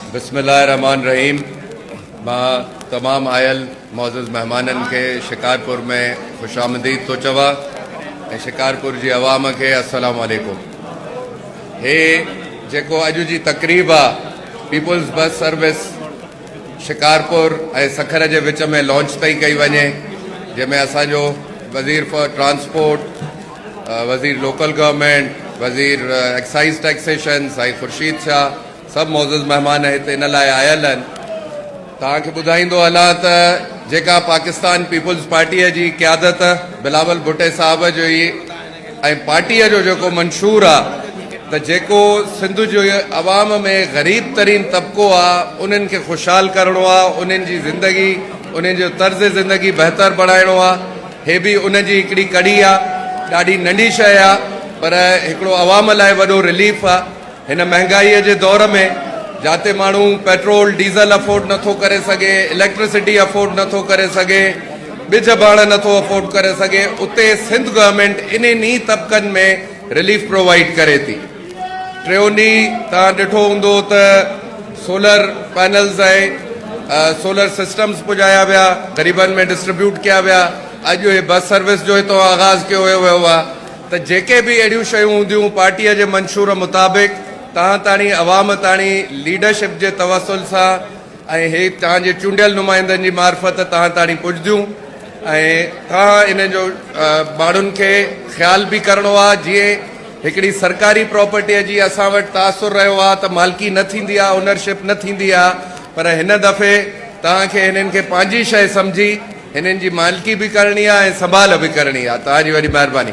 بسم الله الرحمٰن الرحيم مان تمام آيل معزز مهمانن کي شڪارپور ۾ خوش آمديد ٿو چوان ۽ شڪارپور جي عوام کي السلام عليڪم هي جيڪو اڄ جي تقريب آ peoples bus service Shikarpur ۽ Sukkur جي وچ ۾ لانچ تائين ڪئي وڃي جنهن ۾ اسان جو وزير فار ٽرانسپورٽ وزير لوڪل گورنمنٽ وزير ايڪسائز ٽيڪسيشن سائين خورشيد شاهه سڀ معزز مهمان هت ان لاء آيل آهن. توهان کي ٻڌائيندو هلان ته جيڪا پاڪستان پيپلز پارٽيء جي قيادت بلاول ڀٽي صاحب جي ۽ پارٽيء جو جيڪو منشور آ ته جيڪو سنڌ جي عوام ۾ غريب ترين طبقو آ انهن کي خوشحال ڪرڻو آ انهن جي زندگي انهن جو طرز زندگي بهتر بڻائڻو آ هي به ان جي هڪڙي ڪڙي آ ڏاڍي ننڍي شئي آ پر هڪڙو عوام لاء وڏو رليف آ. هن مهانگائي جي دور ۾ جاتي ماڻهو پيٽرول ڊيزل افورڊ نٿو ڪري سگهي، اليڪٽرسٽي افورڊ نٿو ڪري سگهي، ٻج ڀاڻ نٿو افورڊ ڪري سگهي اتي سنڌ گورنمينٽ انهن ئي طبقن ۾ رليف پرووائيڊ ڪري ٿي. ٽيون ڏينهن توهان ڏٺو هوندو ته سولر پينلز ۽ سولر سسٽمز پڄايا ويا غريبن ۾ ڊسٽريبيوٽ ڪيا ويا اڄ هي بس سروس جو هتو آغاز ڪيو ويو آهي. ته جيڪي به اهڙيون شيون هونديون پارٽيء جي منشور مطابق توهان تاڻي عوام تاڻي ليڊرشپ جي توسل سان ۽ هي توهان جي چونڊيل نمائندن جي معرفت توهان تاڻي پڄديون ۽ توهان انهن جو ماڻهن کي خيال به ڪرڻو آ جيئن هڪڙي سرڪاري پراپرٽيء جي اسان وٽ تاثر رهيو آ ته مالڪي نه ٿيندي آ اونرشپ نه ٿيندي آ پر هن دفعي توهان کي هنن کي پنهنجي شيء سمجهي هنن جي مالڪي به ڪرڻي آ ۽ سنڀال به ڪرڻي آ توهان جي وڏي مهرباني.